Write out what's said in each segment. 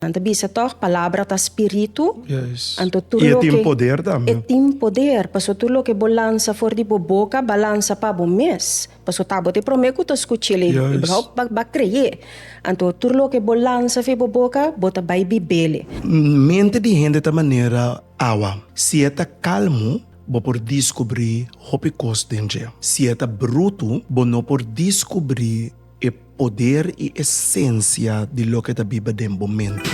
Nan ta bisa tog, palabra ta spiritu. Yes. Anto tur loke. I e tin poder tambe. E tin poder, paso tur loke bo lansa for di bo boka, ba lansa pa bo mes. Paso ta bo te prome ku ta skuchel e, e blou ba ba kreye. Anto tur loke bo lansa afe bo boka, bo ta bai bibele. Mente di hende ta manera awa. Si e ta kalmu, bo por diskubri hopi kos den dje. Si e ta brutu, bo no por diskubri E poder i esensia di loke ta biba den bo mente.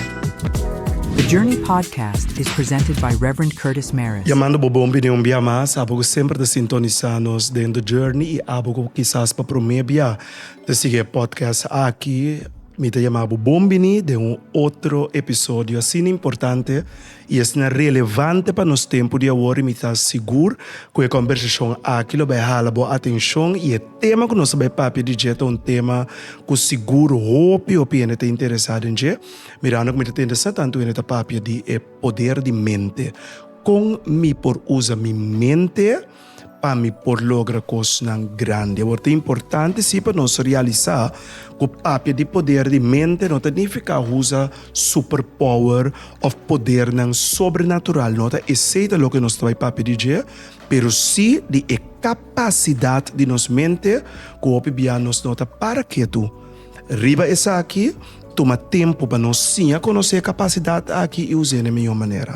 The Journey Podcast is presented by Rev. Curtis Mares. Yamando bo bon bini un bia mas, abo ku semper ta sintonisa nos den The Journey i abo ku kisas pa prome bia ta sigui e podcast aki. Mi ta yama bo bon bini den un otro episodio asina importante. i esnan relevante pa nos tempu di awor i mi ta sigur ku e kòmbersashon aki lo bai hala bo atenshon i e tema ku nos a bai papia di dje ta un tema ku sigur hopi hopi hende ta interesá den dje mirando ku mi ta tende sa tantu hende ta papia di e poder di mente kon mi por usa mi mente pa mi por logra kosnan grandi. Awor, ta importante sí pa nos realisá ku papia di poder di mente no ta nifiká usa superpower òf podernan sobrenatural. No ta esei ta loke nos ta bai papia di dje, pero sí di e kapasidat di nos mente ku hopi biaha nos no ta para ketu. Riba esaki, tuma tempu pa nos siña konosé e kapasidat aki i us'é na e mihó manera.